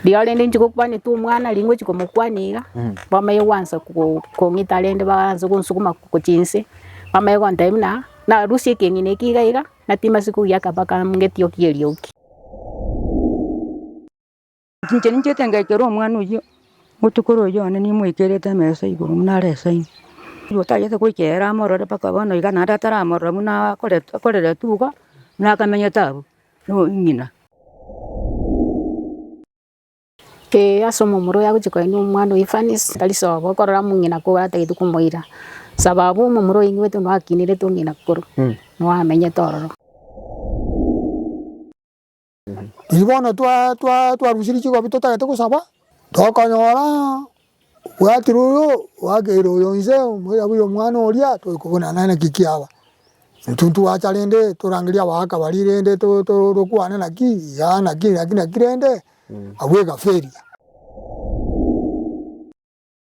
Rirorio rende inchuko kwanetwe omwana ring'o gochia komokwana iga, bamanye gwansa ko- kong'ita rende baanse gonsukuma gochia inse, bamanye gontebia buna narusie ekeng'ina eke iga iga, natima ase kogiyia akaba kamo ng'eti oki eriogi. Inche ninchete ngekere omwana oyio botuko royio one nimoikerete emesa igoro buna are esaino. Riria otagete goika ere amorore mpaka bono iga naende ataramorora buna akorete akorerete iga buna akamenyete abwo. nong'ina. Ee, ase omomura oyo agochia koenwa omwana o Efanisi tari sobo okorora mong'ina koba atagete komoira, sababu omomura oyo oinwete noakinirete ong'ina koru, noamenyete ororo. Riria bono twa twa twarusirie chikobi totagete gosaba, tokonyora Obwatire oyo oakeire oyo inse omoirabu y'omwana oria, tore kobonana naye naki kiaba? Intwe ntwacha rende torangerie abagaaka baria rende tokwane naki? Iga naki naki naki rende abwo egafa eria.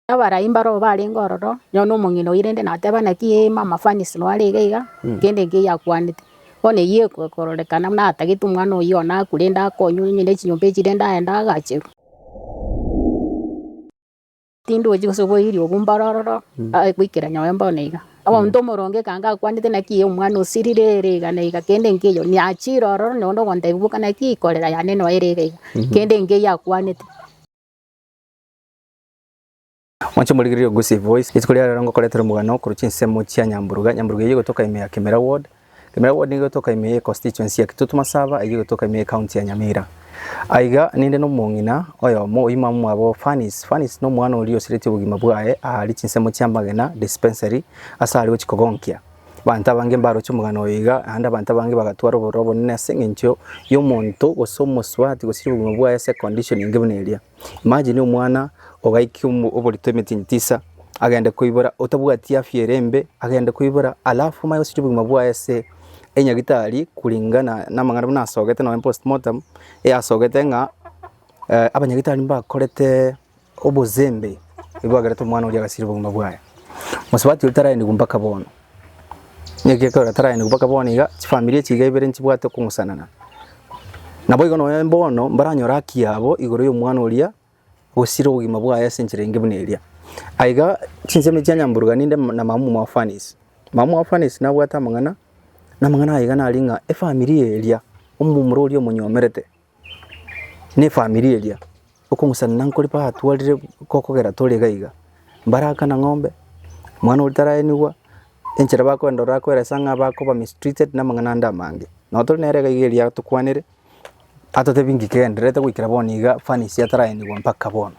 Abaraai mbaroo barenge ororo, nonye omong'ina oyio rende nateba naki ee mama Fanisi noyo arenge iga, kende enki eyio akwanete. Bono eyio ekororekana buna atagete omwana oyio one akwe rende akonywe, onye nechinyomba echi rende aende agacherwe. Tindi gochia gose koiria obwe mboro ororo, aye goikera nyowe bono iga. Omonto omoronge ekanga akwanete naki ee omwana osirire ere iga na iga kende nkeiyo niachire ororo na onde ogontebia boka naki korera yane noyo ere iga iga, kende nkeiyo akwanete. Mwanche morigererie Ogusi Voice. Rituko ria rero ngokoretera omogano korwa chinsemo chia Nyamburuga. Nyamburuga eyio egotoka ime ya Kemera Ward. Kemera Ward nigo egotoka ime ye Constituency ya Kitutu Masaba eyio egotoka ime ye County ya Nyamira. Aiga ninde nomong'ina oyomo oyio mama mwabo Fanice. Fanice nomwana oria osiretie obogima bwaye aari chinsemo chia Magena Dispensary ase aari gochia kogonkia. Abanto abange mbaroche omogano oyo iga naende abanto abange bagatwara obororo obonene ase eng'encho yomonto gose omosubati gosiria obogima bwaye ase condition enge buna eria. Imagine omwana ogaika oborito emetinyi tisa agende koibora otabwati afya ere embe agende koibora alafu omanye goseria obogima bwaye ase enyagitari kulingana na amang'ana buna asogete nonye post mortem e asogete ng'a abanyagitari mbakorete obozembe nigo bakerete omwana oria agasiria obogima bwaye. Mosubati oria tarairanigwa mpaka bono. Nekiagera taraenikwa mpaka bono iga, chifamiri echi iga ibere nchibwate okong'usanana. Naboigo nonya bono mbaranyore haki yabo igoro y'omwana oria osire obogima bwaye ase enchera enge buna eria. Aye iga chinsemo chia nyamburuga ninde na mama omwaofanisi. Mama omwaofanisi nabwate amang'ana, na amang'ana aye iga nare ng'a efamiri eria, omomura oria omonyomerete. ne efamiri eria, okong'usanana nkore batwarire gokogera tore iga iga, mbarakana ng'ombe, mwana oria taraenigwa, enchera bakoenda ororo akoeresa ng'a bakoba mistreated na amang'ana ande amange. Nabo tore nere iga iga eria agotokwanere, atotebi ng'ikeendererete goikera bono iga fanies ataraenigwa mpaka bono.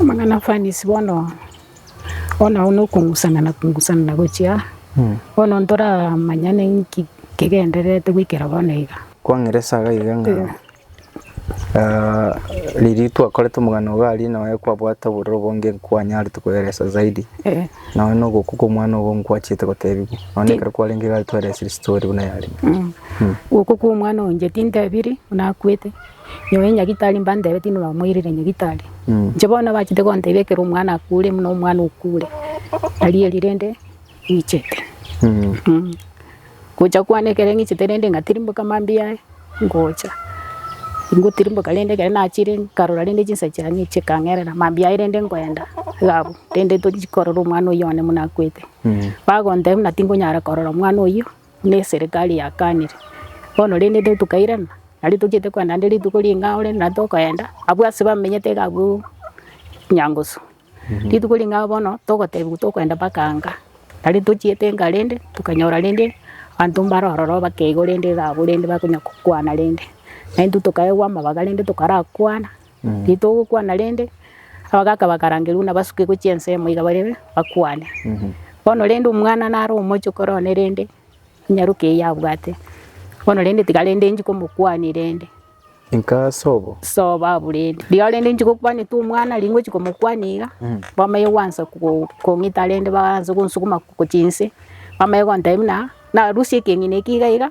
Amang'ana afanisi bono, bono agwo na okong'usanana kong'usanana gochia bono ntoramanyane inki kegendererete goikera bono iga. Kwang'ira esaga iga ng'a riria twakorete omogano iga aria nonye kwabwate obororo obo inge nkwanyarete koeresa zaidi Eh, nonye na ogokwa kwa omwana obo nkwanchete gotebigwa nonye na ekero kwarenge iga twaeresirie story buna yarenge. mm. Ogokwa kwa omwana oyo inche tintebiri buna akwete. Nyoo e nyagitari mbantebe tindi bamoirire nyagitari. Inche bono abachete gontebia ekero omwana akure buna omwana okure tari eri rende ng'ichete. Gocha kwane ekero ng'ichete rende ngatirimboka mambia aye ngocha. Ngotirimboka rende ekero nachire nkarora rende chinsa chiane chikang'erera mambia aye rende nkoenda iga abwo rende tochi korora omwana oyio one buna akwete. Bagontebia buna tingonyara korora omwana oyio. Neserekari yakanire bono rende intwe tokairana nario tochiete kogenda naende rituko ring'ao rende nario tokoenda abwo ase bamenyete iga abwo Nyangusu. Rituko ring'ao bono togotebiwa tokoenda mpaka Anga nario tochiete Enga rende tokanyora rende abanto mbare ororo bake igo rende iga abwo rende bakonya kokwana rende. Naintwe tokaegwa amabaga rende tokarakwana. Titogokwana rende. Abagaka bakarangerwa nabasukigwe chinsemo iga barebe bakwane. Bono rende omwana nare omochokoro one rende nyaroki eyio abwate. Bono rende tiga rende inchi komokwania rende. Inka sobo. Sobo abwo rende. Rirorio rende inchi gokwanete omwana ri ngochi komokwania iga, bamaye gwansa ko- kong'ita rende baanse gonsukuma gochia inse, bamaye gontebia buna narusie ekeng'ina eki iga iga,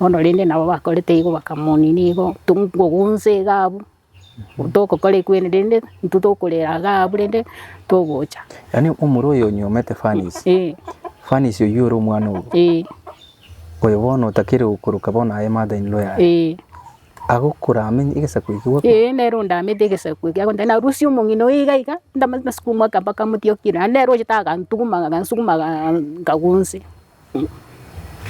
Bono rende nabo bakorete igo bakamonina igo, tonkogonsa iga abwo, tokokora ekwene rende intwe tokorera iga abwo rende togocha. Yaani omoro oyo onyomete Fanisi, Eh, Fanisi oyio ore omwana obo, eh, oyo bono otakire gokoroka bono aye mother in law yaye, eh. agokora amenye egesaku eki gwakwa. Eh, nere ondamete egesaku eke agontebia narusie omong'ina oyo iga iga, ndamanyete nasukumaka mpaka amotiokire, naende nere oche tagantuguma agansuguma aga- nkagonse.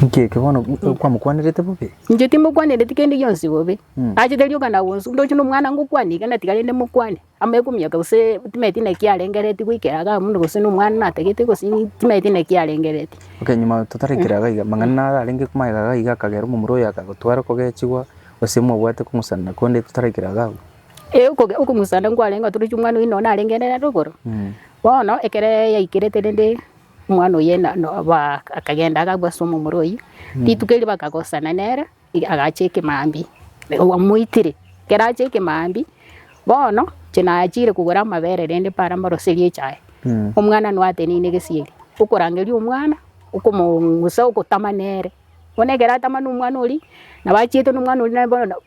Inki eke bono kwamokwanerete bobe? Inche timokwanereti kende gionsi bobe. Achete rioka na gonsu, ndoche nomwana ngokwane iga natiga rende mokwane, amo ekomiaka gose timanyeti naki arengereti goikera igaa buna gose nomwana natagete gose timanyeti naki arengereti. Okay nyuma totarekera iga iga, amang'ana naro arenge koma iga iga akagera omomura oyo akagotwara okogechigwa gose mwabwate okong'usana konde totarekera iga abwo? Ee okoge okong'usana nkwarenge otoroche omwana oyio nonye narenge nere rogoro, bono ekero yaikerete rende Omwana oye na- no- ba- akagenda agakwa ase omomura oyio, rituko erio bakagosana nere, i- agacha ekemambia. Obo amoitire, ekero acha ekemambia, bono inche nachire kogora amabere rende para mboroserie echae, omwana noo ateneine egesieri, okorangeria omwana, okomo- ongusa ogotama nere. Bono ekero atama nomwana oria, nabo achiete nomwana oria naye bono.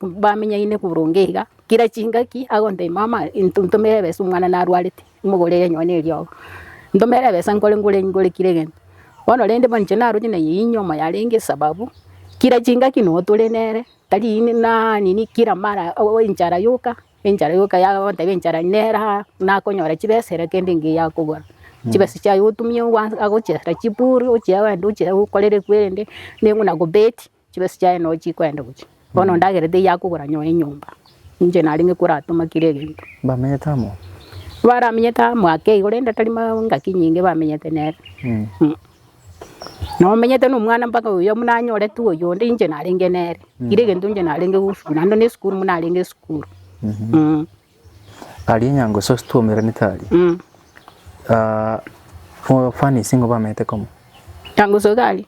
bamenyaine boronge iga, kera chingaki agotebia mama into ntomere ebesa omwana narwarete, imogorere nonye ne eriogo, ntomere ebesa nkore nkore nkore kira egento. Bono rende bono inche naroche na eyio enyiomo yarenge esababu, kira chingaki noo tore nere, tari ine naa nini kira mara oo enchara yoka, enchara yoka ya ogotebia enchara nere aa, nakonyora chibesa ere kende engiya akogora. Chibesa chiaye otumie ogwansa agochera chibori ochia wende ochia okorere kwerende, neng'u na kobeti. Chibesa chiaye no chikwenda gochia. Bono ndagera teiyo akogora nyoe enyomba. Ninche narenge koratoma kera egento. Bamenyete amo. Baramenyete amo ake igo rende tari ma engaki nyinge bamenyete nere. Mm. Mm. Nomenyete na omwana mpaka oyo buna anyorete oyonde inche narenge nere. Kera egento inche narenge gosukuru. Naende na esukuru buna arenge esukuru. Mm. Aria nyango sosi twaumeranete aria furnace nigo bamanyete komo. Nyango sosi aria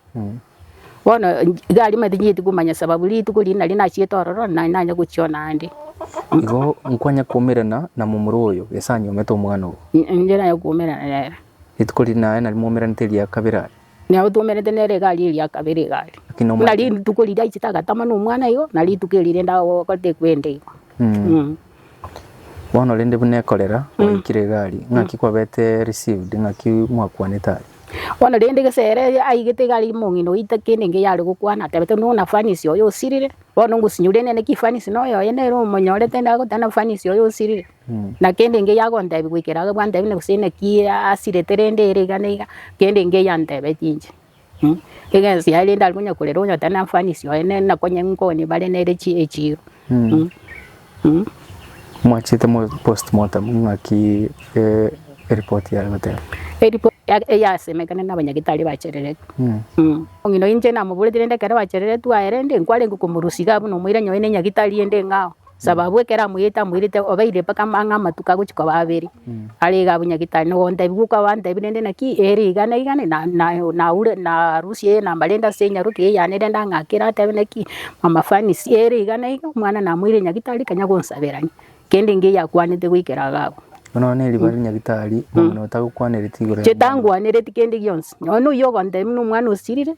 bono iga aria tinyeiti komanya sababu rituko riria naria nachiete ororo nari nanye gochiona ande. Igo nkwanye kwaumerana na momura oyo gese anyuomete omwana obo. Inche nanye kwaumerana nere. Rituko riria naye nari mwaumeranete ria kabere aria. Nao twoumerete nere egari eria ya kabere egari. Buna Kinomwate. rituko riria aichete agatama na omwana igo, na rituko eri rende agotekwa ende igo. Mm. Bono rende buna ekorera gwaikire egari, ng'aki kwabete received, ng'aki mwakwanete aria? Bono rende gesere aigete egari omong'ina oita kende enke yare gokwana atebete no na fanisi oyo osirire. Bono ngosinyure nene ki fanisi noyo oye nere omonyorete nagotana fanisi oyo osirire. Na kende engiya agontebia goikera aye bwantebine gose inaki asirete rende ere iga na iga, kende engiya antebeti inche. Egesi yaye rende arikonya korera onyotera na mfanisi oye ne- na konya nkoni bare nere chi- echiro. Mwachete mo post mortem ng'aki eh, eripoti yare goteba. Eripo- ya- eyasemekana na abanyagetari bachereretu. Omino inche namoboreti rende ekero bachereretu aye rende nkwarenge komorusia iga buna omoira nyoe ne nyagitari ende ng'ao. Sababu ekero amoyete amoirete obeire mpaka ang'e amatuko agochia koba abere, are iga abwo nyagetari nigo ontebia goka gwantebia rende naki ere iga na iga na- na- naure narusie eye enamba rende ase enyaroke eye yane rende ang'akere atebe naki mama Fanisi ere iga na iga omwana namoire nyagetari kanya gonsabera ime, kende engiya eyakwanete goikera iga abwo. Bono one ribaga ria nyagetari, omino otagokwanereti igoro ya omwana. Chitangwanereti kende gionsi, nonye oyio ogontebia buna omwana osirire.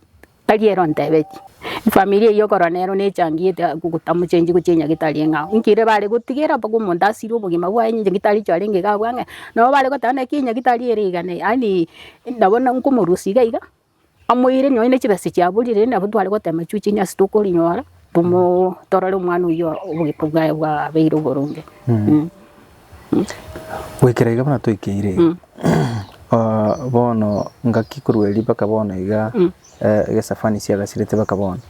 Tari'ero ontebetie, efamiri eyio korwa nero nechangiete gokogota mochengi gochia onye getari eng'ao. Inki ere bare gotigera mpaka omonto asire obogima bwaye onye nyagetari echo arenge iga abwo ang'e. Nabo bare goteba naki enyagetari ere iga ne yaani nabo nkomorusia iga iga, amoire nonya ne chibesa chiaborire rende nabo tware gotema chio chio onye tokorinyora tomo torore omwana oyio obogima bwaye bwabeire oboronge. Goikera iga buna toikeire iga, bono ngaki korwa erio mpaka bono iga egesafani siagasirete mpaka bono.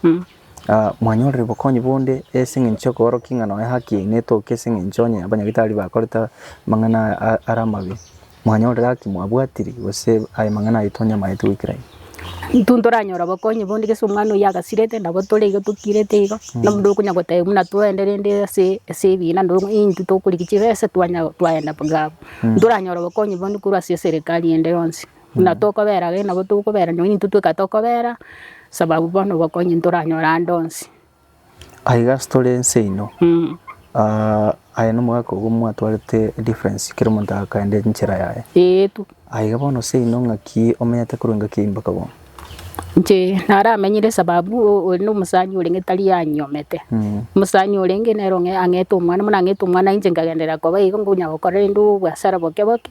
Mwanyorire obokonyi bonde ase eng'encho kia okoorokia ng'a nonya haki yaino etoke ase eng'encho onye abanyagitari bakorete amang'ana are amabe? Mwanyore gaki mwabwatiri, gose aye mang'ana aye tonyamaete goikera ime. Intwe ntoranyore obokonyi bonde gese omwana oyio agasirete nabo tore iga tokirete iga na onde okonya goteba buna twende rende ase ase ebina nabo intwe tokorigia chibesa twanya twaenda bwa abwo. Ntoranyore obokonyi bonde korwa ase eserekari ende yonsi buna tokobera gaki nabo tokobera nonya intwe tweka tokobera sababu bono obokonyi ntoranyore ande onsi. Aiga ase tore ense ino, aye nomogaka obo mwatwarete difference kera omonto agakaenda enchera yaye. Ee tu. Aiga bono seino ng'aki omenyete korwa engaki eyio mpaka bono? Inche naramenyire sababu ore na omosani orenge tari anyomete. Omosani orenge nere ong'e ang'ete omwana buna ang'ete omwana inche nkagenderera koba igo nkonya gokora rende obwasara boke boke,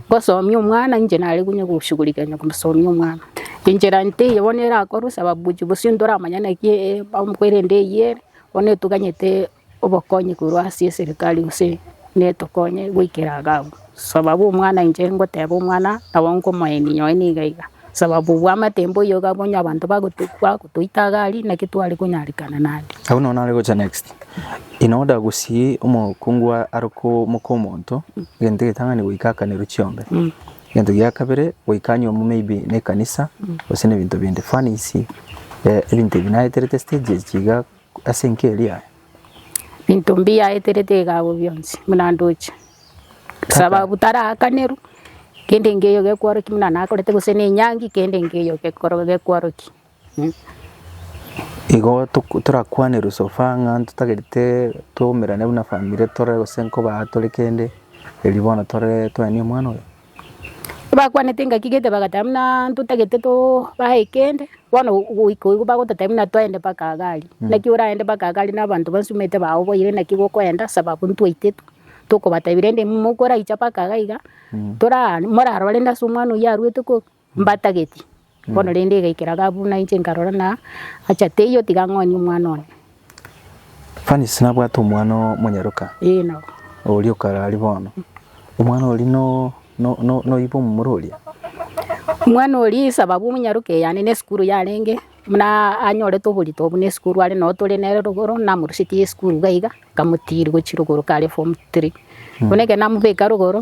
ngosomia omwana inche nare konya goshugulika konya kosomia omwana. Enchera nteiyo bono erakorwe sababu gochia bosio ntoramanya naki ebamuku erende eyio ere, bono etoganyete obokonyi korwa ase eserikari gose netokonye goikera iga abwo. Sababu omwana inche ngoteba omwana nabo nkomoenia nyowe niga iga, sababu obwamate mboiyo iga bono abanto bagoto bagotoita iga aria naki tware konyarerana naende. Abwo nabo nare gocha next, inwe oda gosii omokungu arokwo moka omonto egento egetang'ani goika akanerwe chiombe, Egento gia kabere goika nyomo maybe ne ekanisa gose ne ebinto binde fanies ebinto ebi naeterete stages chiga ase enka eria aya. Binto mbiaeterete iga abwo bionsi buna ndoche sababu tarakanerwa kende nkeiyo gekwarokio buna nakorete gose na enyangi kende nkeiyo gekwarokio. Igo torakwane Rusofa ng'a totagerete twaumerane buna family tore gose nkoba tore kende, erio bono tore toenie omwana oye. Tibakwaneti engaki gete bagateba buna totagete tobae kende, bono goika igo bagototebia buna toende mpaka Agari. Naki oraende mpaka Agari na abanto bonsi omanyete bagoboyire naki gokoenda sababu intwe titwe tokobatebia rende mokoraiche mpaka iga iga, toraa morarore ase omwana oyio arwete kobe. Mbatageti. Bono rende igaikera iga buna inche nkarora na acha teiyo tiga ng'onie omwana one. Fanisi nabwate omwana oo monyaroka. Ee nabo. Oria okara aria bono. Omwana oria no no no noyibe omomura oria. Omwana oria esababu omonyaroka eyane ne esukuru yarenge buna anyorete oborito obwo ne esukuru are noo tore nere rogoro namorusetie esukuru iga iga nkamotiri gochia rogoro kare form three. Bono ekero namobeka rogoro.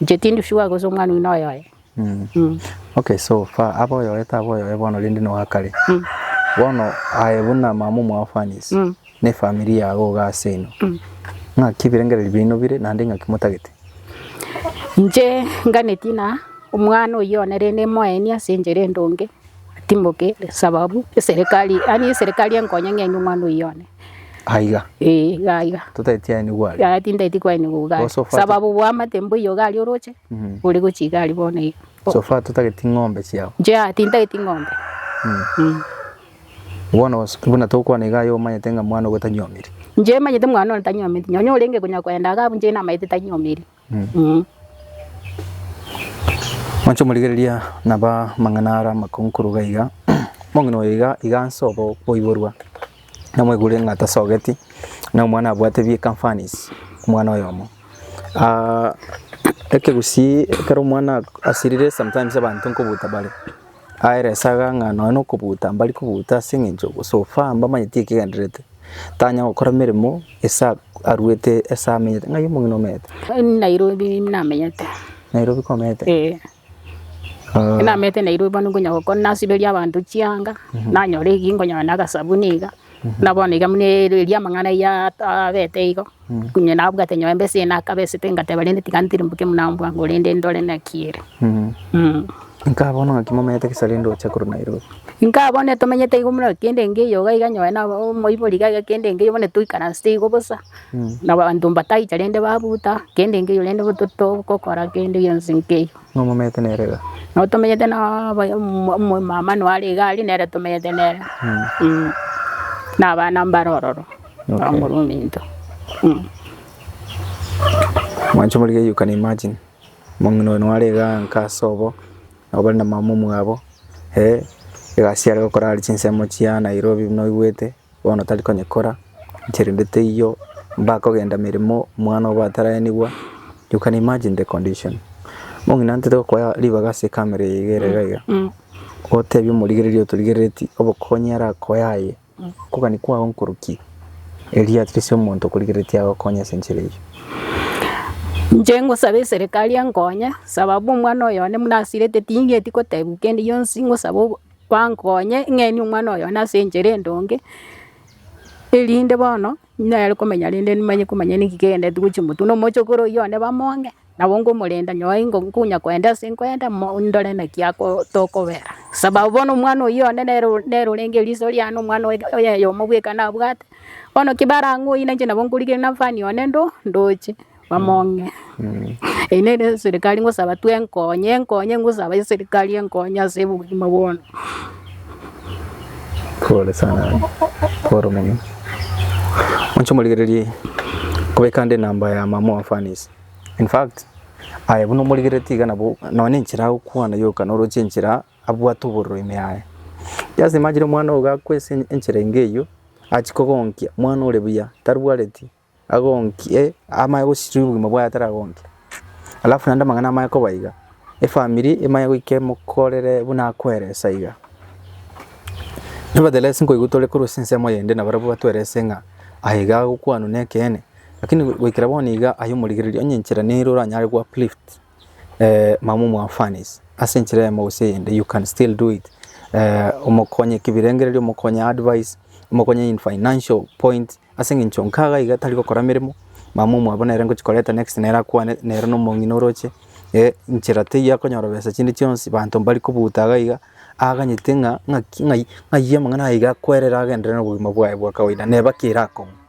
Inche tindi sugar gose omwana oyio noyoye. Okay so far abe oyoye tabe oyoye bono rende noa kare. Bono aye buna mama omwao Fanny's na efamiri yago iga ase ino. Ng'aki ebirengererio biaino bire naende ng'aki motagete? Inche nganeti na omwana oyio one rende moenie ase enchera endonge atimoke sababu eserekari yaani eserekari enkonye ng'enie omwana oyio one. Aiga. Ee, iga iga. Totaeti aye nigo are. Iga tindaeti kwaye nigo iga are. Bosofa- Sababu bwamate mbo iga iga aria oroche, Mhm. ore gochia iga aria bono iga. O- So far totageti ng'ombe chiao. Inche aa tindaeti ng'ombe. Mm. Bono os- buna tokwana iga aye omanyete ng'a mwana ogo tanyomiri. Inche manyete mwana one tanyometi, nonye orenge konya koenda iga abwo inche namaete tanyomeri. Mwanche omorigereria naba mang'ana ara amakonkoro iga iga, omong'ina oyo iga iga nse obo oiborwa, namwegure ng'a tasogeti, na omwana abwate bi ekamfanis, omwana oyomo. Ekegusii ekero omwana asirire sometimes abanto nkobuta bare. Aeresaga ng'a nonya nokobuta mbari kobuta ase eng'encho so far mbamanyeti ekegendererete, tanya gokora emeremo ase a- aruete ase amenyete, ng'ai omong'ina omete? Nairobi namenyete. Nairobi komete? Eeh. Aah. Namenyete Nairobi bono nkonya gokora nasiberia abanto chianga, nanyora eki nkonya na agasabuni iga, na bono iga buna eria amang'ana ya abete igo. Onye nabwate nyomba ase enakaba esete ngateba rende tiga ntirimboke buna mbwa korende ndore naki ere. Nkabona ng'aki momenyete gesa rende oche korwa Nairobi. Nkabona tomenyete igo buna kende engiya iyoga iga nyoe na omoibori iga iga kende engiya bono toikaransete igo bosa na abanto mbataicha rende babuta kende engiya rende bo totogokora kende gionsi nkeiyo. Ng'a momenyete nere iga. Nabo tomenyete na aba omo omomama nare iga aria nere tomenyete nere na abana mbare ororo. Okay. Omorwa ominto. Mm. Mwancho moriga you can imagine. Mong'ina oyo nware iga nka ase obo. Nabo bari na mama omwabo. Eh, egasi yare gokora ari chinsemo chia Nairobi buna oigwete. Bono tari konyekora. Nchire nde teiyo. Mbaka ogenda meremo omwana obo ataraenigwa. You can imagine the condition. Mong'ina ntete gokoa ribaga ase ekamera eye igere iga iga. Mm. Otebia omorigereria otorigereretie obokonyi arakoe aye. Okogania kwao nkoruki, erio at least omonto okorigereretie agokonye ase enchera eyio. Inche ngosabe eserekari enkonye sababu omwana oyo one buna asirete ting'eti gotebiwa kende gionsi ngosabe obo bankonye ng'enie omwana oyo one ase enchera endonge erinde bono nere komenya rende nimanye komanya naki kegendereti gochia motwe na omochokoro oyio one bamonge. Nabo nkomorenda, nyoe ingo nkonya koenda ase nkoenda, mo- ndore naki ako tokobera. Sababu bono omwana oyio one nere o- nere orenge riiso riane, omwana oye oye oyomo bweka nabwate. Bono ki barang'e oyio nainche nabo nkorigereria na fan one ndo ndoche, bamong'e. Eyio nere eserikari ngosaba tu enkonye, enkonye ngosaba eserikari enkonye ase obogima bono. Pole sana pole mono. Inche omorigereria kobeka nde enamba ya mama oa fans. In fact, aye buna omorigereti iga nabo nonye enchera agokwana yoka noroche enchera abwate obororo ime yaye. Just imagine omwana ogo gakwa ase enchera enga eyio achie kogonkia omwana ore buya tarwareti agonkie amaye gosiria obogima bwaye ataragonkia. Alafu naende amang'ana amaya koba iga, efamiri emanye goika emokorere buna akoeresa iga. Nevertheless nkoigwa tore korwa ase ensemo eyende nabarabwo batwerese ng'a aye iga agokwanwa nekeene. Lakini goikera bono iga aye omorigereria onye enchera nere oranyare go uplift mama omwafanisi ase enchera eyemo gose eyende you can still do it omokonye kibirengererio, omokonye advice, omokonye in financial point ase eng'encho nka iga iga tari gokora emeremo mama omwabo nere ngochia koreta next nere akwane nere na omong'ina oroche enchera teiyo akonyora besa chinde chionsi banto mbari kobuta iga iga aganyete ng'a ng'aki ng'ai ayio amang'ana aye iga akwerere agenderere nobogima bwaye bwa kawaida neba ki erakong'u.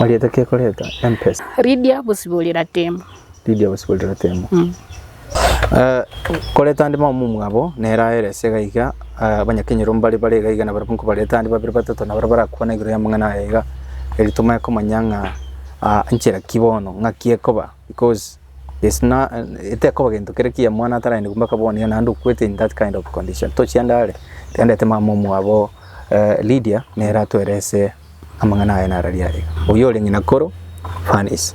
Oriete kekoreta empesa. Lydia bosiborera temo. Lydia bosiborera temo. Mm. Uh, koreta ande mama mwabo nera aerese gaiga uh, eh, banyakenyero mbare bare gaiga na barabunko bareta ande babere batato na barabara kwana igoro ya mang'ana aiga eri tomaye komanya ng'a uh, nchera kibono ng'a kiekoba because it's na etekoba gento kere ki omwana ataragende kobua mpaka bono yona ande okwete in that kind of condition tochiende are tendete mama omwabo eh, Lydia nere atwerese amang'ana aye narari are oyo ore ng'ina koro Fanice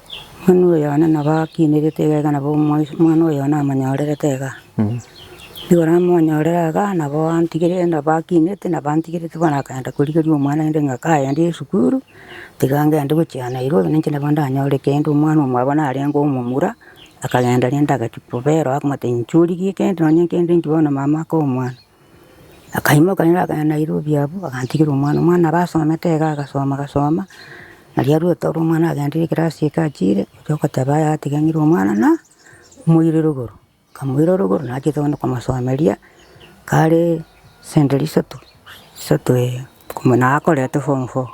Mani oyone nabo akinerete iga iga nabo omwais- omwana oyo namonyorerete iga. Nigo namonyorere iga nabo antigere nabo akinete nabo antigerete bono akagenda korigeria omwana inde ng'a kagende esukuru, tiga ngende gochia Nairobi ninche nabo ndanyore kende omwana omwabo narenge omomura, akagenda rende agachia kobera akamotebia inche origie kende nonye kende inki bono mama akoa omwana. Akaimoka nere akagenda Nairobi abwo agantigera omwana, omwana abe asomete iga agasoma agasoma, nari arwete ore omwana agenderire ekerasi eke achiire, oria ogoteba yaya tiga ng'ire omwana na moire rogoro, kamoira rogoro nachete gento komosomeria kare center isato, isato ee, koma naye akorete form four.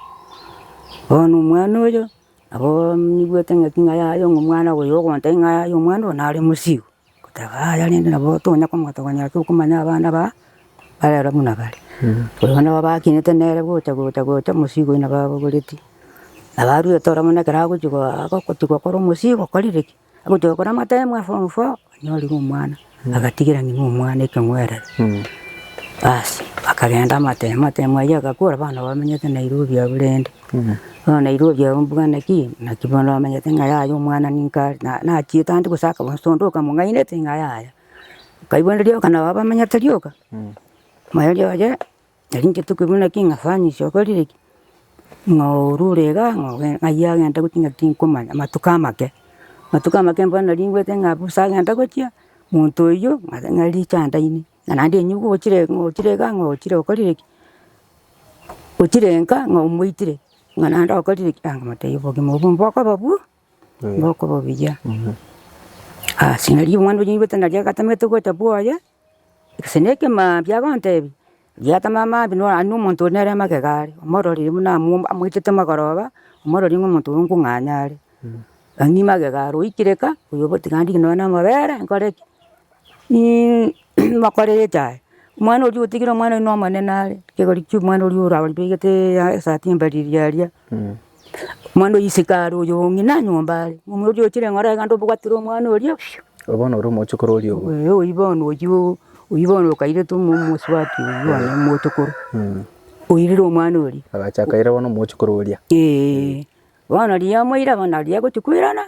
Bono omwana oyo, nabo nigwete ng'aki ng'a yaya omwana oyo ogontebia ng'a yaya omwana oyo nare mosigo. Goteba aya rende nabo tonya komogotoka konyara tokomanya abana ba barero buna bare. Korende buna babakinete nere gocha gocha gocha omosigo oina babogoreti. Abarwete ororo buna ekero agochi goa agochi gokora omosigo okorire ki? Agochi gokora amatemo e form four onyorire omwana agatigera ng'ina omwana ekeng'werere. Basi bakagenda amatemo amatemo ayio agakora abana bamenyete Nairobi abwo rende. Bono na irue oria ombugana naki, naki bono omanyete ng'a yaya omwana ninka are, na nachiete ande gose akaba gose onde okamong'ainete ng'a yaya. Okaigwera rioka nabo abamenyete rioka, omoerio oye, nari inche tokobua naki ng'a fani ase okorire ki, ng'a orure iga ng'a oge ng'ai agenda gochia ng'a tinkomanya, amatuko amake. Amatuko amake bono nari ngwete ng'a bosa agenda gochia, monto oyio ng'a richa andaine. na naende enywe nigo ochire ng'a ochire iga ng'a ochire okorire ki, ochire nka ng'a omoitire ng'a naende okorire ki, anga motebi obogima obwo mbokoba bu, mbokoba buya. Ase nari omwana oria nigwete nari agatamete gocha bwoye, gose na ekemambia biagontebia, giatama amambia no aye nomonto ore nere magega are, omororire buna amu amoitete amagoroba, omororire ng'a omonto oyo nkong'anya are. Ang'e magega are oikire ka, oyobotiga ndigite nonye na amabere, nkore ki, bakore echa aye, omwana oria otigire omwana oria nomonene are, ekegori kia omwana oria orabegete esati embariri aria, omwana oyo isiko are oyo ng'ina nyomba are, omwana oria ochire ng'ora iga ndobwatire omwana oria piu. Oyo bono ore omochokoro oria obo. Ee oyio bono oyio, oyio bono okairete omo omosubati oyio one omochokoro, oirire omwana oria. Agacha akaira bono omochokoro oria. Eeh, bono riria amoira bono nariria agochia koirana.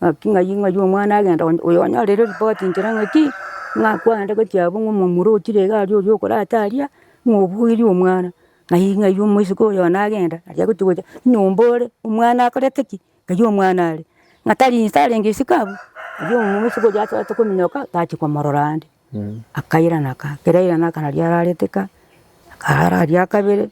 Naki ng'ai ng'ai omwana agenda onye oyo onyorire ripoti nchera ng'aki, ng'a kwande gochia abwo ng'a omomura ochire iga aria oria okorata aria, ng'a obuerie omwana. Ng'ai ng'ai omoiseke oyo one agenda, aria agochia gocha nyomba ore, omwana akorete ki? Ng'ai omwana are, ng'a tari inse arenge isiko abwo. Erio omoiseke oria achaka kominyoka, tachia komorora ande. Akairana ka, kera airana aka nario ararete ka, akarara aria akabere.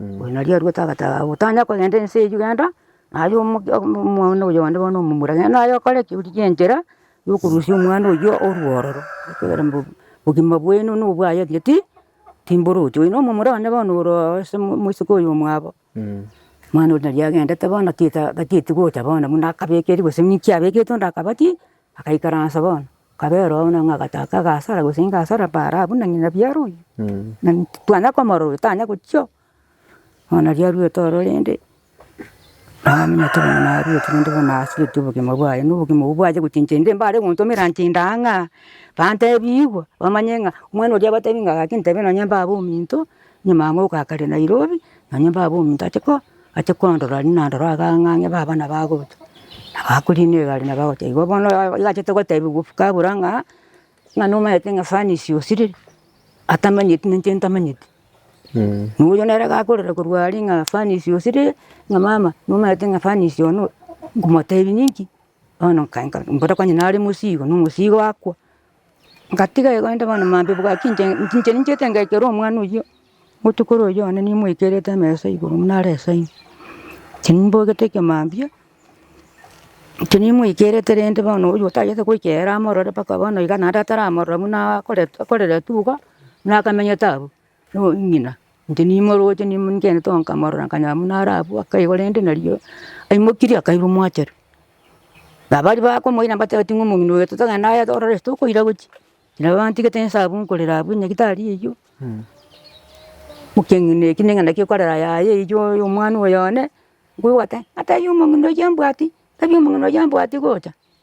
Oyo nari aruete agataha, otanya kogenda ense eyio genda, naye omoke omwana oyo onde bono omomura genda naye okore ki orie chenchera ya okorusia omwana oyio orwe ororo, ekiagera mbu obogima bwaino na obwaye pi pi timboroche. Oyo na omomura one bono ore oo ase moiseke oyo omwabo, omwana oria nari agendete bono tita tatigocha bono buna akabekeri gose ninki abekete onde akaba ki. Agaikaransa bono, kabera oo buna agataka agasara gose inga asara paara abwo na ng'ina biara oyio. Na titwanya komorora oyo tanya gochia oo. Bono riria arwete ororo rende, naminyete bono narwete rende bono nasigetie obogima bwaye na obogima obwo bwacha gochencha inde mbare gontomera ntinda aa ng'a aa, bantebi igwa, bamanye ng'a omwana oria abatebi ng'a gaki ntebe nonye mbabe ominto. Nyuma amo ogakare Nairobi, nonya baba omonto ache ko, ache kondora aria nandora iga ng'a ng'e baba nabo agocha. Nabo akorina egari nabo agocha. Igo bono oyo oyachete gotebiwa ofuka abura ng'a, ng'a nomaete ng'a furnace osirire, atamanyeti na inche ntamanyeti. Na oyio nere gakorera korwa aria ng'a furnace osirire, ng'a mama nomaete ng'a furnace one oyo, nkomotebi ninki? Bono nkaika mbora konya nare mosii igo, na omosii igo akwa. Ngatiga igo inde bono maambia obogoa ki inche, inche ninchiete ngekere omwana oyio botuko ore oyio one nimoikerete amesa igoro buna are esaino. Inche nimbogete eke maambia, inche nimoikerete rende bono oyio otagete goikera amorore mpaka bono iga naende ataramorora buna akorete akoreretwe iga buna akamenyete abwo. nong'ina, inche nimoroche nimonchene togo nkamorora nkanyora buna are abwo akaigwa rende nario aimokirie akaigwa omwachete. Na baria bakomoira mbatebeti ng'a omong'ina oyo totogende aye torore ase tokoira gochia. Nabo bantigete inse abwo nkorera abwo nyagetari eywo, mokeng'ina eki ning'a naki ekorera yaye eywo oyo omwana oyo one, nkoigwa gote, natebia omong'ina oyio mbwati, tebia omong'ina oyio mbwati gocha.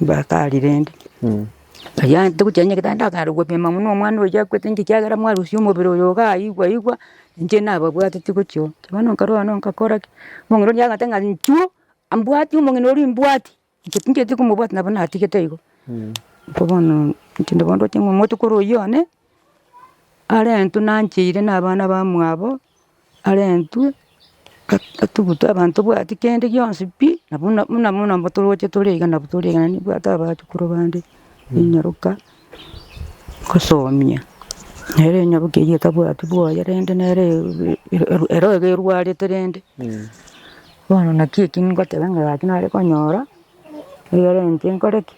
Bakari rende, aria togochia onye eketare ndakare gopima buna omwana oyo akwete inki ekiagera mwarusia omobere oyo iga aye igwe igwe, inche nababwateti gochia oo. Bono nkarwa aye ngakora ki? Omong'ina oria agoteba ng'a nchuo, mbwati omong'ina oria mbwati, inche tincheti komobwati nabo natigete igo. Bono intwe nabo ndwoteba ng'a omotuko ore oyio one. arentwe nancheire na abana bamwabo, arentwe at- atugutwe abana tobwati kende gionsi pi, na buna muna muna muna toroche tore iga nabu tore iga naende nabwate abachukuru bande, ninyaroka kosomia, nere enyaroka eywo etabwati bwoye rende nere e- e- eru- ero iga erwarete rende. Bono naki eki ngoteba ng'a gaki nare konyora, egerente nkore ki.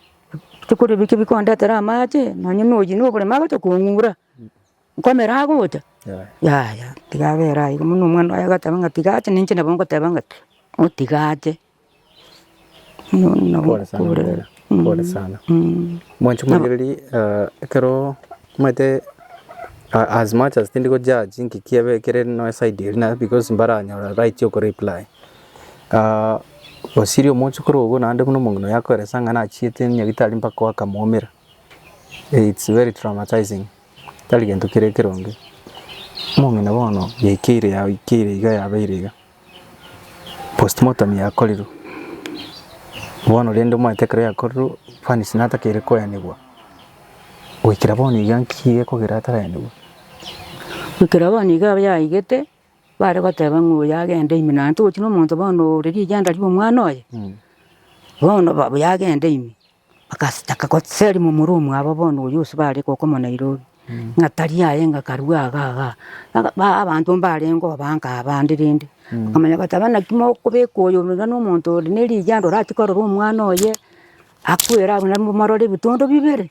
Ebikori ebi kebikondetera amache, nonya na oyio na oboremo agocha kong'ura, nkomera agocha, yaya tiga abera aye iga. Buna omwana oye agateba ng'a tiga ache, ninche nabo ngoteba ng'a motiga ache. Pole sana mama, pole sana. Mwanche morigererie ekero omanyete as much as tindi go judge ng'iki kiabe kere nonye side eria, naende because mbaranyore right okoreply. osirie omochokoro ogo naende buna omong'ina oye akoeresa ng'a nachiete nyagitari mpaka oakamwoumera, it's very traumatizing, tari gento kere ekeronge. Omong'ina bono yaikeire yaikeire iga yabeire iga, postmortem yakorirwe, bono rende omanyete ekero yakorirwe Fanisi natakeire koenigwa, goikera bono iga nki egekogera ataraenigwe? Goikera bono iga yaigete, Bare goteba ng'a oyo agende ime, naende togochia nomonto bono ore rigenda ri'omwana oye, bono ba- buya agende ime. Bagas taka goseria momura omwabo bono oyio ase bare goka omo Nairobi, ng'a tari aye ng'a karue iga iga. Baga ba abanto mbarenge obange abande rende, bakamanya goteba naki mokobeka oyo ore iga nomonto ore nerigendo orachie korora omwana oye, akwere abwo narimomorore ebitondo bibere.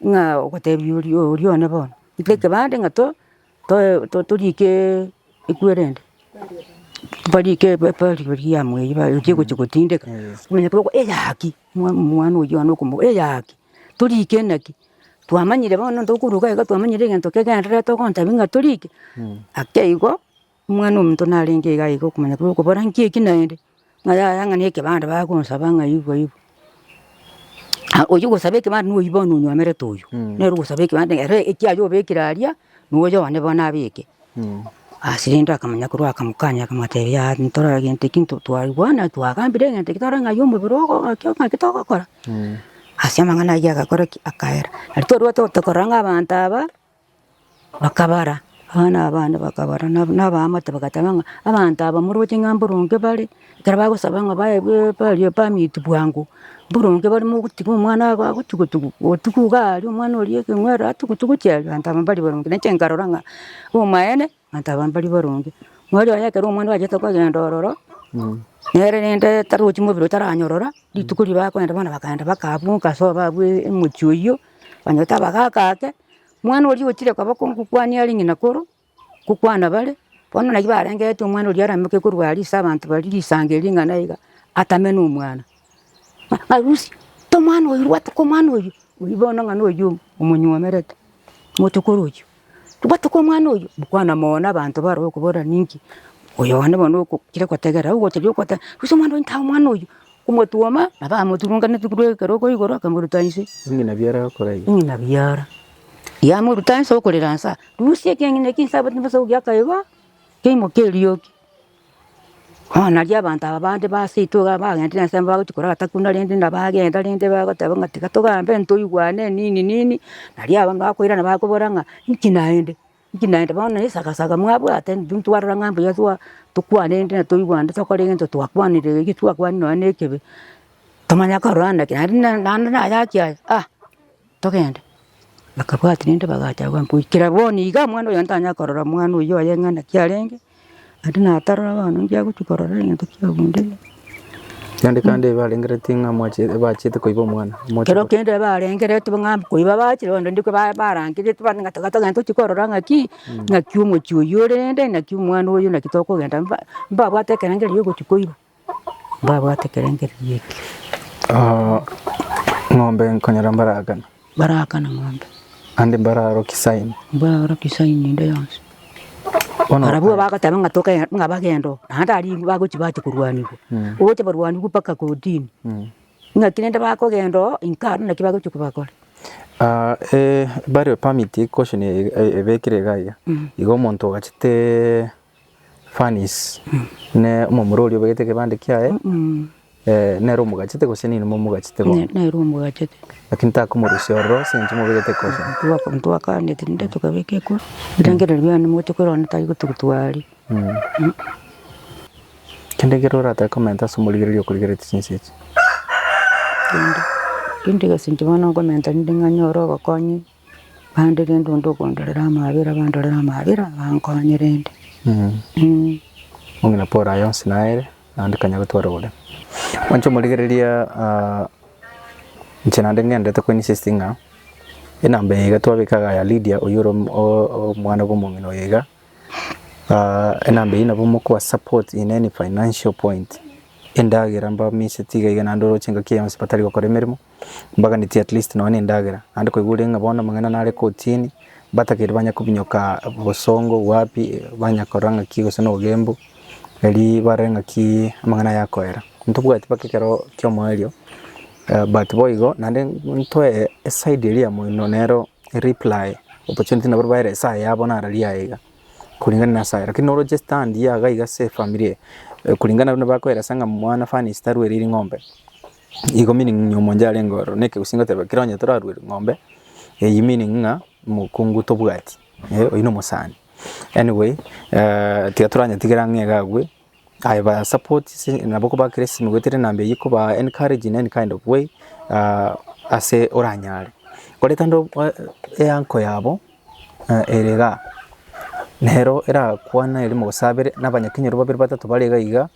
Ng'a ogotebia oria oria one bono, ika ekebande ng'a to toe to- toriike ekwere ende, barike ebe eberi beri yamo eyio ba echi egochia gotindeka, onye toko eyaki mwa mwana oyio one okomo eyaki, toriike naki, twamanyire bono ntokoruga iga twamanyire egento kegendererete ogontebia ng'a toriike, ake igo. Omwana-o-monto narenge iga iga okomanya korwa okobora nki eki naende, ng'a yaya ng'a nekebanda bagonsaba ng'a igwa igwa. Ah oywo ogosaba ekebanda noyio bono onyomerete oyio, nere ogosaba ekebanda ere ekiaye obekire aria, noyo one bono abeke. Ase rende akamanya korwa akamokanya akamotebia yaya ntorore gento eki nto twaigwana twagambire egento eki torore ng'ai omobere ogo ng'aki o ng'aki togokora. Ase amang'ana ayio agakora ki? Akaera. Nari torwate gotokorora ng'a abanto aba. Bakabara, abana aba bande bakabara, na na abaamate bagateba ng'a abanto aba moroche ng'a mboronge bare, ekero bagosaba ng'a bae be baria permit bwango, mboronge bare mogotiga omwana aa agotugu tugu, otugwa iga aria omwana oria ekeng'werere atugutugu chieeri abanto aba mbari baronge. Nainche nkarora ng'a omaene. Mataba mbaria barenge. Mweri oye ekero omwando bachete kogenda ororo, nere rende tarochi mobere otaranyorora, rituko riria bakogenda bono bakagenda bakabunga ase obabu emochie oyio, banyore tabagaka ake, mwana oria ochire koba kogokwania are ng'ina koro, gokwana bare, bono naki barengeretie omwana oria aramoke korwa aria ase abanto baria risango eria ring'ana iga, atame nomwana. Arusi, tomwana oywo rwata komwana oywo, oywo bono ng'a noywo omonyomerete, motuko orochio, rwata komwana oywo, mokwana mogo na abanto bare okoborera ninki, oyo one bono okokire gotegerera, ogotebi ogoteba rusia omwana oywo tae omwana oywo, omotwoma nabo amoturunganeti korwa ekero oko igoro akamoruta inse, Eng'ina biara akoraia. eng'ina biara yamoruta inse okorera insa, rusia ekeeng'ina ekia inse abwate nabasaugi akaigwa, keimoke eriogi. Bono nario abanto aba bande baseito iga bagenderire ense bagochia korora takuna rende na bagenda rende bagoteba ng'a tiga togambe ntoigwane nini nini, nario abwo bakoirana bakobora ng'a inki naende, inki naende bono na esaga mwabwate intwe ntwarora ng'a mbuya twa tokwane rende na toigwane tokore egento twakwanire gaki twakwanire nonya na ekebe, tomanya kororana naki naende na naende nayaki aya ah. togende. Bakabwati rende bagacha agwo goikera bono iga mwana oyo ntanya korora mwana oyio oye ng'a naki arenge, naende natarora bono ngiagochia korora egento kiagundeire. Kende kende ebarengeretie ng'a mwachi- bachiete koiba omwana, moche Kero kende ebarengereti bang'a koiba bachire bono rende koba barangereti bande ng'a tiga togenda tochi korora ng'aki, ng'aki omochie oyio ore rende, naki omwana oyo naki tokogenda mba- mbabwate ekerengera erio ogochi koiba. Mbabwate ekerengererio eke. Ng'ombe nkonyora mbaragana. Mbaragana ng'ombe. Ande mbararoki saini. Mbararoki saini ende yonsi. Bono. Barabwo bagoteba ng'a toke ng'a bagende oo. Naende aria igo bagochi bache korwanigwa. Ogocha barwanigwe mpaka kotini. Ng'aki rende bakogenda oo inka aro naki bagochi kobakora. Burial permit gosho ne ebekire iga iga. Igo omonto ogachete. Furnace ne omomura oria obegete ekebande kiaye nere omogachete gose ninwe momogachete bono? Nere omogachete. Lakini takomorusia ororo ase eng'encho mobegete ekofi. Ntwakaneti rende tokabeka ekofi erangererio yane mogochia korora onde tari gotugutwa aria. Kende kere oratoe komenta ase omorigereria okorigeretie chinsa echi? Kende gese inche bono nkomenta rende ng'a nyore obokonyi Bande rende onde okondorera amaabera abandorere amaabera abankonye rende. Mm. Ong'ina Paul aye onsi naere, naende kanya gotwara ore. Mwanche omorigereria ah, inche naende ng'endete koinsist ng'a enamba eye iga twabeka iga ya Lydia oyio ore om- o- o- omwana bw'omong'ina oyo iga, ah, enamba eyio nabo mokoa support in any financial point, endagera mbamiseti iga iga naende oroche engaki eye yonsi batari gokora emeremo, mbaganetie at least nonya endagera, naende koigwa ore ng'a bono amang'ana nare kotini, mbatakeire banya kobinyoka bosongo wapi, banya korora ng'aki gose na obogembu, erio barore ng'aki amang'ana aya akoera. Ntobwati mpaka ekero kia omoerio, but boigo naende ntoe eside eria ya moino nero ereply opportunity nabo baere esaa yabo naro ria aiga, koreng'ana na esaa ero, lakini noroche stand iga iga ase efamiri eye, koreng'ana nabo bakoera ase ng'a mwana fanies tarweire ring'ombe. Igo meaning ng'a omonto yarenge ororo na ekegusii ngoteba ekero onye torarue ng'ombe eyio meaning ng'a mokungu tobwati eh oyio na omosani. Anyway tiga toranyetigera ng'a iga agwe aye ba support se nabo kobakera esimi goetera enamba eyio kobaa encourage in any kind of way ase oranyare. Kore kande eanko yabo ere igaa nero erakwane ere mogosabere na abanyakenyoro babere batato bare iga igaa.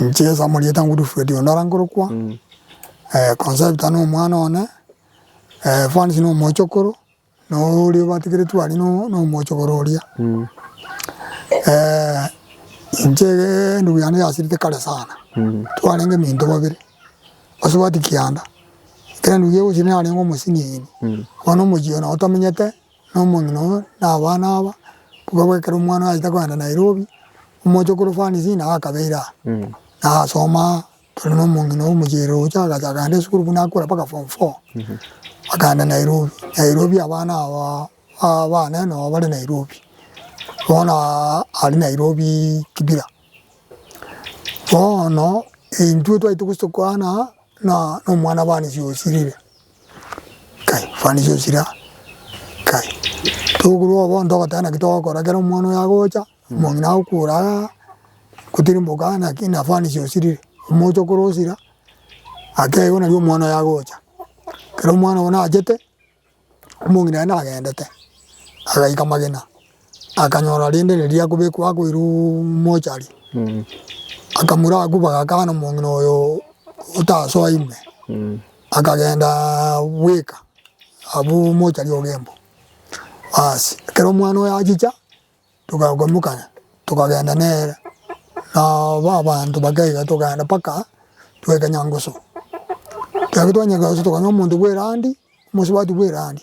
Inche ase amarieta Godfred onde orangorokwa Concepta na omwana one, Evans na omochokoro na oria obatigeretwe aria na omochokoro oria. Inche endugu yane yasirete kare sana twarenge minto babere basubati kianda ekero endugu eye egosira narenge omosiniyi bono omochie oye nabo tamenyete. Na omong'ina oo na abana aba bokwe bwa ekero omwana oyo aita kogenda Nairobi, omoche korwa Fanisi nao akabeire aa. Na agasoma aa, tore na omong'ina oo omochiere roche agacha akaenda esukuru buna akure mpaka form four. Akaenda Nairobi, Nairobi abana aba abane nabo bare Nairobi. Bono aa aria Nairobi Kibira. Bono intwe twaita gose tokwana aa na omwana Fanisi osirire. Kai fani chechire aa kai tokorwa obo onto ogoteba naki togokora ekero omwana oyo agocha, omong'ina agokura aa gotirimboka aa naki na fani chia osirire, omoche okore osira ake igo nari omwana oyo agocha. Ekero omwana obo nachete, omong'ina aye nagendete agaika magena. Akanyora rende riria akobekwa akoirwe mochari, akamura agwo bagakana omong'ina oyo otasoa ime, akagenda bweka abwo mochari ogemba. Baas ekero omwana oyo achicha togakomokana tokagenda nere na ba abanto bakaiga tokagenda mpaka twaika Nyangusu. Ekero twanyia Nyangusu tokanywa omonto bwa erandi, omosubati bwa erandi.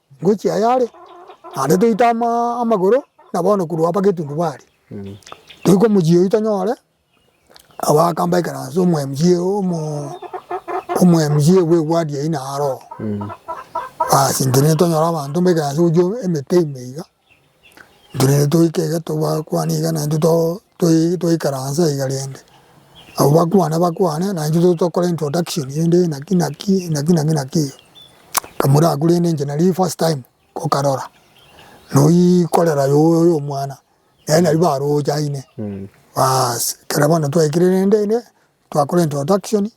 Ngochia ayare, naende toite amagoro na bono korwa aba Getundubari, toike omochie oyio tonyore, nabo akamba ekeranso omoMG omoMGA bwe ward eyio naro oo. Bas intwe nitonyora abanto mba ekeranso gochia emete ime iga. Intwe naende togoika iga togakwana iga naende toikaranse iga rende abwo bakwane bakwane naintwe tobe tokore introduction rende naki naki naki naki naki iga kamuri ako rende inche nari first time nkokarora noyii korera yoyo omwana nere naria baroche aine baas ekero bono twaikire rende ere twakora introduction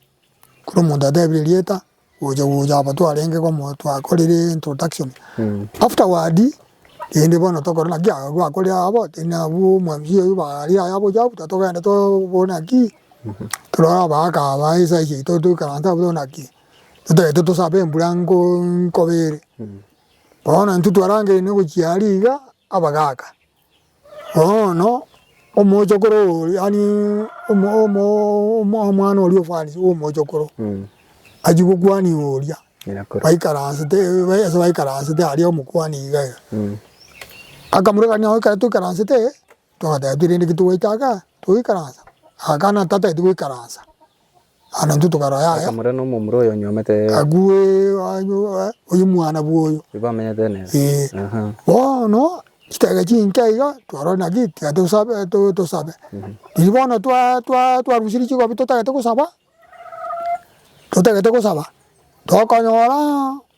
kera omonto atebire erieta gocha gocha aba twarenge komo twakorire introduction afterward rende bono tokore naki aba gwakore abo na abwo mwamisi oyo bare aye aboche after togende tokore naki torore abagaka aba esaisi yaito toikaranse abwo tokore naki totagete tosabe embura nko nkobe ere. Bono intwe twarangeire nogochia aria iga abagaka Bono omochokoro oria yaani omwana oria ofarisee bwa omochokoro achia gokuani iga oria baikaransete ase baikaransete aria omokuani iga iga akamorora ng'a ekero toikaransete twateba pi rende ki togoeta aka togoikaransa? Agakana tataeti goikaransa. Naende intwe tokarora yaya. Akamorera nomomura oyo onyuomete ere. Agwo ee, oyo mwana bwoyo. Oyo bamenyete nere. Ee. Aha. Bono chitege chinke iga twarorire naki tiga tosabe tosabe. Riria bono twa twa twarusirie chikobi totagete gosaba, totagete gosaba, tokonyora.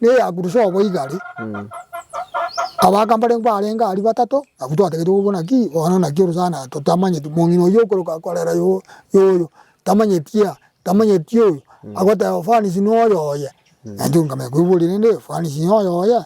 Neyakurusa obo igare, abaka mbarengeo barenge aria batato, abwo twatagetigwe kobuna ki? Bono naki orosana totamanyeti, omong'ina oyio okoroka korera yo yoyo, tamanyeti aa, tamanyeti oyo, agoteba ofanisi noyo oye, naende nkamanya koiboria rende ofanisi noyo oye?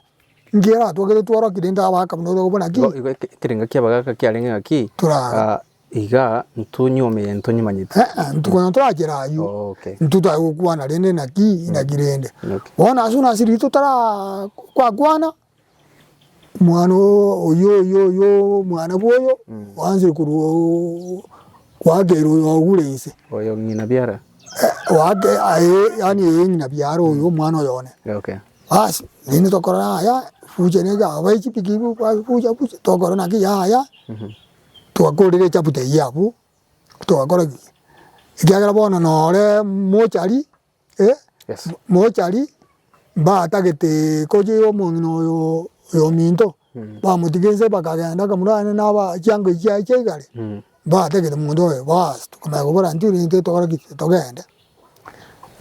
Nki eratwokire tworoki rende abaka buna orokobuna ki? Igo igo eke ekerengo ki'abagaka kiarenge ng'aki? Torara. Ah, Iga ntonyuome egento ntonyimanyeti. Ee, ntukonya torachera ayio. Oh, okay. Intwe twaye gokwana rende naki inaki rende. Okay. Bono ase buna ase rito tara kwakwana mwana oo oyo oyo oyo mwana bwoyo oanze korwa oo kwakerwa oyo ogure inse. Oyo ng'ina biara. Eh, wake aye yani eye ng'ina biara oyo mwana oyo one. Okay. Bas rende tokorora aya future nega abae chipiki bu kwa future future tokorora naki yaya. Togakorigia echaputa eyio abwo, togakora ki? Ekiagera bono nore mochari, eh, Yes. mochari, mbatagete kochia omong'ina oyo oyo ominto, bamotiga inse bakagenda akamurana naba chianga echi chiaye chia igare, mbatagete monto oyo, baas, tokamanya kobora intwe rentwe tokore ki? Togende.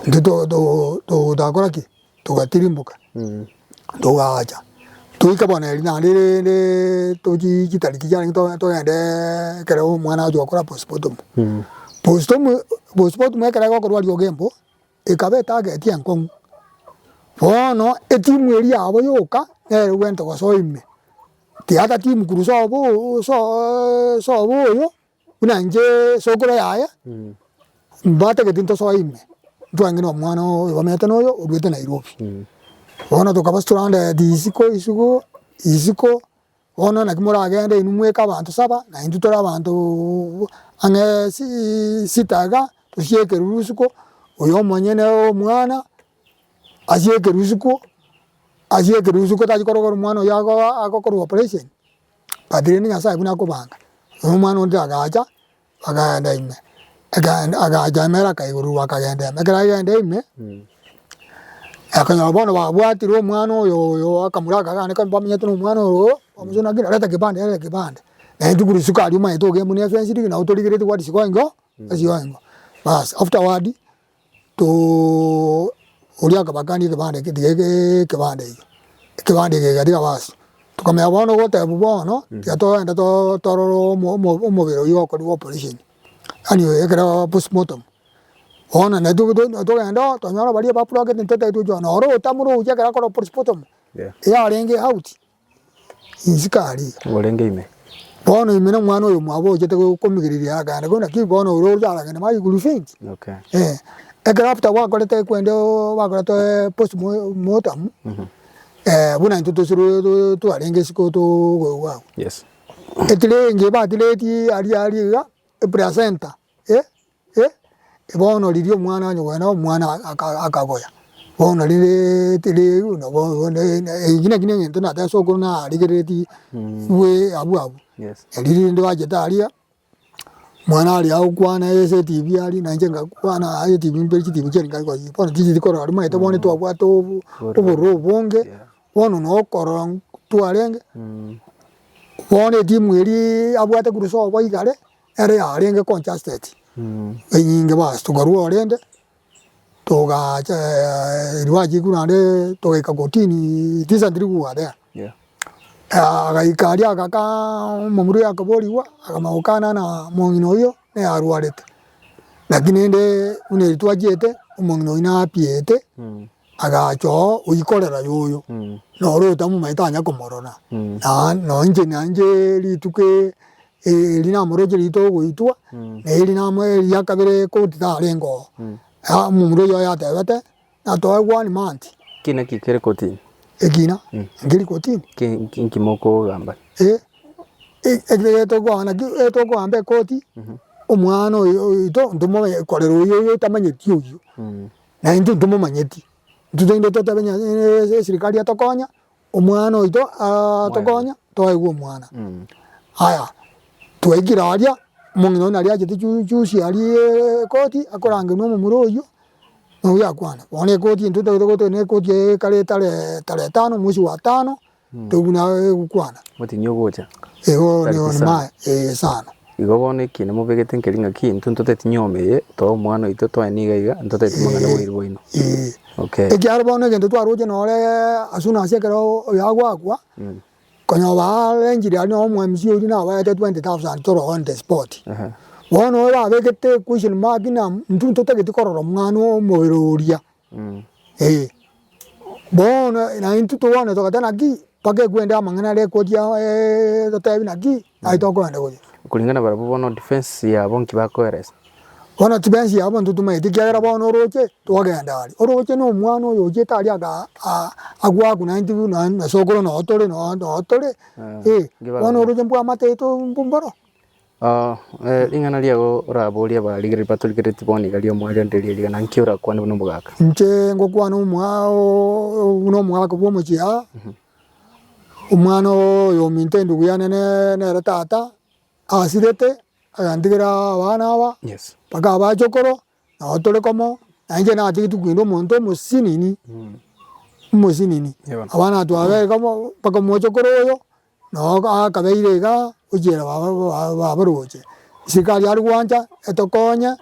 Intwe to- to- to- togakora ki? togatirimboka togaacha toika bono erio naende rende tochie chitariki chiarenge to togende ekero omwana agochia gokora postmortem. Postmortem postmortem ekero egokorwa riogo embo ekaba etageti enkong'u bono etimu eria yabo yoka nere bwente gose oime tiga timu kurwa sobo sooo sobo oyo. Buna inche esokoro yaye, mbatagete ntosoe ime, ntwange na omwana oyo bamanyete na oyo oruete Nairobi. Bono tokaba torandereti isiko isiko isiko, bono naki moragende inwe mweka abanto saba, na intwe tore abanto ang'ee sii sita iga, tosie ekeruru isiko, oyo omonyene omwana asie ekeru isiko, asie ekeru isiko tachi korogera omwana oyo ago agokorwa operation. But rende Nyasae buna akobanga, na omwana onde agacha, bakagenda ime, ekegenda agacha ime ere akaigururwa bakagenda ime, ekero agenda ime, akonyora bono babwatire omwana oyo oyo akamoraka gane kaba bamenyete na omwana oyogo, omochenu ng'a kina reta kebande reta kebande, naye intwe korwa isiko aria omanyete ogokenda buna efenced ng'a nabo torigeretie gwatisigwa ingo, tatisigwa ingo, baas afterward. Too! Oria akabakania ekebanda eke, tiga ekebanda eke, ekebanda eke egatiga basi. Tokamenya bono ogotebwa bono, tiga togende too torore omo omo omobere oyio okorigwa operation, yaani ekero postmortem. Bono na to to togende oo, tonyore baria baburokete ntataete ochiwa, noro otamore ochi ekero akorwa postmortem, eyarenge out. Inse kare. Ngorenge ime. Bono ime na omwana oyo mwabo ochete komigereria aragende kore naki bono ore oria aragende magi crusade. Okay. Eh. Ekero after gwakorete kwende oo bakorete ee post mortem eh buna intwe tose rwe twarenge isiko too goigwa abwo. Yes. Etirenge batiretie aria aria iga eplacenta. E, e, e, bono riria omwana onye bwene omwana akagoya, bono rireeete riu nabo bono eki naki ne egento natete ase okoro narigereretie bwe abwo abwo. Erio rende bachete aria, mwana aria agokwana ase etibi aria nainche nkakwana ase etibi mperi chitibi chiaria nkaria koyia bono tichicheti korora rimaete bono twabwate obo obororo obonge, bono na okorora ntwarenge, bono etimu eria abwate korwa sobo igare. Ere yarenge conjusted enyinge bas tokarua orende togacha riwache ekuru naende togaika kotini recently we were there agaika aria agakaa omomura oyo akaborigwa akamanya gokana ng'a omong'ina oyio nere arwarete lakini rende buna eri twachiete omong'ina oyio napiete agacha oo oyikorera yoyo noro otamomanyete tanya komorora nonye inche nanyche rituko Eri rinamoroche rito ogoitwa, na eri rinamo eria kabere koti tarenge oo. Aa omomura oyio oyatebete, Natoe gwani manti. Ki naki kere kotini? Ekina, nkeri kotini. Ki nki mokogamba? Ee, ekere tokoa naki etokoamba ekoti, omwana oyo oito ntomoe korera oyo oyo otamanyeti oyio. Naintwe ntomomanyeti, intwe togende totebe Nyasae eserikari etokonya, Omwana oito atokonya twaigwe omwana aya twaikire aria omong'ina oyio naria achete chusi aria ekoti akorangenwa omomura oyio oyio akwane bono ekoti intwe totagete gotogia na ekoti ekare etare tarehe tano omwesi wa tano toigwe naye egokwana. Gotinyia ogocha. Igo nigo maye eeh sana. Igo bono eki namobegete nkeri ng'aki, intwe ntoteti nyoma eye, toe omwana oito, toe niga iga, ntoteti mang'ana boiri bwaino. Okay. Ekiagera bono egento twaroche nore as soon as ekero oyo agoakwa, konya oba arrangire aria nonye omwamisi oria nabaete 20,000 toro on the spot. Ehe. Bono oyo babegete question mark na intwe ntotagete korora omwana omobere oria. Ee, bono na intwe togwenerete ogoteba naki mpaka ekwende amang'ana aria ekoria egotebi naki naki tokoenda koria. Kulingana na barabwo bono defense yabo nki bakoeresa? Bono defense yabo intwe tomaeti ekiagera bono oroche togenda aria, oroche na omwana oyo ochete aria gaa aa agwaku na intwe buna na sokoro noo tore noo tore ee, bono oroche mbwamate to mboro. Ring'ana riago oraborie abarigereria batorigeretie bono iga ri'omwaiyo ndirie rigana, nki orakwane buna omogaka? Inche ngokwana buna omogaka bw'omochie aa, omwana oyominto endugu yane nere tata asirete agantigera abana aba mpaka abachokoro nabo tore komo na inche natigetie koenda omonto omosinini omosinini abana twabere komo mpaka omochokoro oyo Nao akabeire iga ochiera babaroche, isiko aria are gwancha etokonye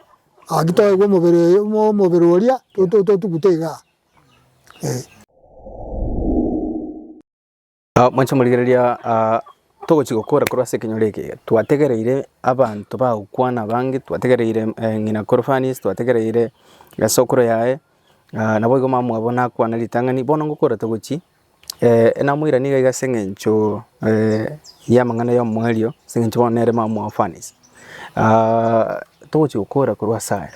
gaki toegwe omobere oria totugute iga eh. Mwanche morigereria togochi gokora korwa ase ekenyoro eke iga twategereire abanto bagokwana abange twategereire ng'ina kore Fanisi twategereire sokoro yaye naboigo mama bwabo nakwana ritang'ani bono ngokora togochi. namoiranetie iga iga ase eng'encho y'amang'ana y'omwerio ase eng'encho bono nere mama o orphans togochi gokora korwa ase aya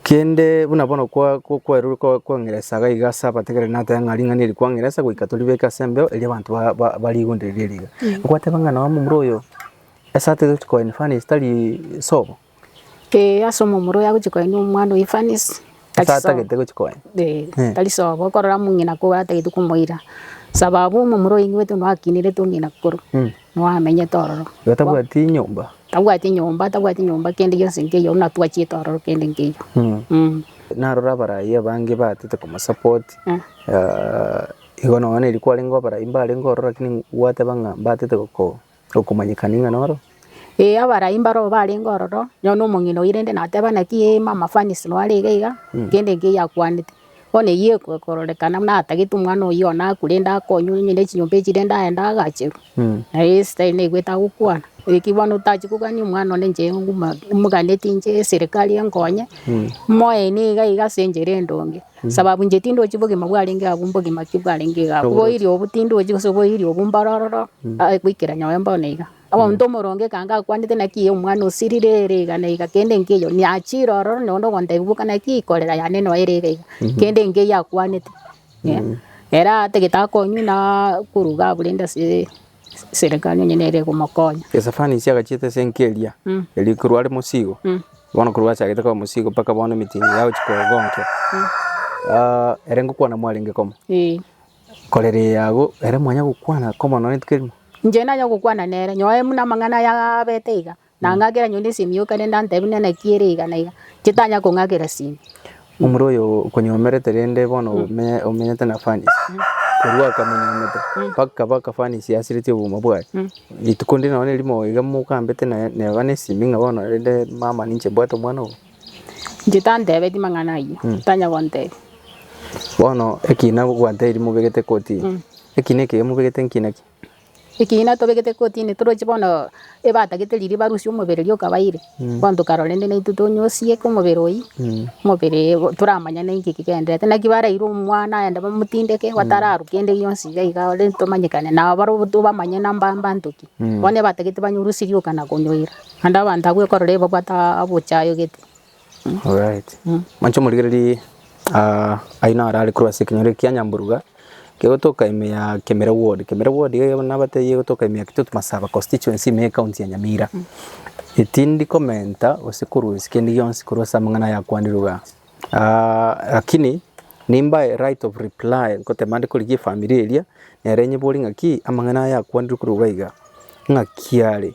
kende buna bono kwa- kwa- kwarorire kwa- kwang'ira esaga iga ase abategereri nateba ng'a ring'ana eri kwang'ira esaga goika toribeke ase embeo erio abanto ba- ba- barigondereria riga, okwateba ng'a nonya momura oyo ase atagete koa in furnace tari sobo. Ee, ase omomura oye agochia koenia omwana oyio Evanisi, Ase atagete gochia koenia. Ee, Eh. tari sobo, okorora omong'ina koba atagete komoira, sababu omomura oye oigwete buna akinirete omong'ina korwa Mm. nao amenyete ororo. Igo tabwati nyomba. Tabwati nyomba, tabwati nyomba kende gionsi nkeiyo, buna twachete ororo kende nkeiyo. Mm. Mm. Narora abarai abange baatete komosupport, Mm. ah, igo noone riria kwarenge abarai mbarenge ororo lakini gwateba ng'a mbatete goko okomanyeka ning'ana oro? Ee, abarai mbarabwo barenge ororo, nonya buna omong'ina oyio rende nateba naki ee mama Fanisi noo arenge iga, kende enki eyio akwanete. Bono eyio eko ekororekana buna atagete omwana oyio one akwe rende akonywe nonya na echinyomba echi rende aende agacherwe. Naye ase tari naigwete agokwana, naki bono otachia kogania omwana one inche nguma moganetie inche eserekari enkonye, moe niga iga ase enchera endonge. Nsababu inche tindochi bogima bwarenge agwo mbogima ki bwarenge iga agwo. Oboiri obo tindochi gose oboiri obo mbore ororo, aye goikera nyowe mbono iga. Omonto omoronge ekanga akwanete naki eye omwana osirire ere iga na iga kende nkeiyo, niachire ororo na onde ogontebia boka naki eye korera yane noyo ere iga iga, kende nkeiyo akwanete. Ere atagete akonywe na korwa iga abure inde ase. Serekari onye nere egomokonya. Estefanasi agachieta esenke eria, erio korwa are mosigo, bono korwa achagete koba mosigo mpaka bono emetini eye agochia kogonkia, ah, ere ngokwana mwarenge komo. Ee. Korera eye agwo, ere mwanya gokwana komo nonye rituko erimo? Inche nanya gokwana nere, nyoe buna amang'ana aya abete iga, Na ng'akera nyonde ase emioka, ne ndantebi, Nene ki ere iga na iga? Chitanya kong'akera sime. Omura oyo okonyomerete rende bono omenye- omenyete na Fanisi, korwa akamenyomete mpaka kaba akafanisi asiretie obogima bwaye. Rituko ndire nonya nerimo iga mokambete na- neba nesimi ng'a bono rende mama ninche mbwate omwana obo. Inche tantebetie mang'ana ayio, tanya gontebi. Bono ekina gwanteiri mobegete koti, ekina ekeiga mobegete nki na ki? Ekiina tobegete kotini toroche bono ebatagete riria barusia omobere riria okabaeire bono tokarora rende naintwe tonyosie omobere oyio omobere toramanye ninki ekigendererete naki baraire omwana aende bamotindeke batararwa kende gionsi iga iga ore tomanyekane nabo barabwo tobamanye na mba mbanto ki bono ebatagete banyorwe sirioka na konyoira naende abanto abwo ekorora ebabwate abochayo gete. Alright. Mancho morigereri ah, aino ara ari korwa ase ekenyoro ekia Nyamburuga kegotoka ime ya Kemira ward. Kemira ward iga iga nabatebie yegotoka ime ya Kitutu Masaba constituency ime ya ecounty ya Nyamira. Etindi komenta gose korwa ense kende gionsi korwa ase amang'ana ayakwanire igaa. Ah, lakini nimbae right of reply ngoteba ande korigia efamiri eria nere nyebori ng'aki amang'ana aya akwanirwe korwa iga iga ng'aki are.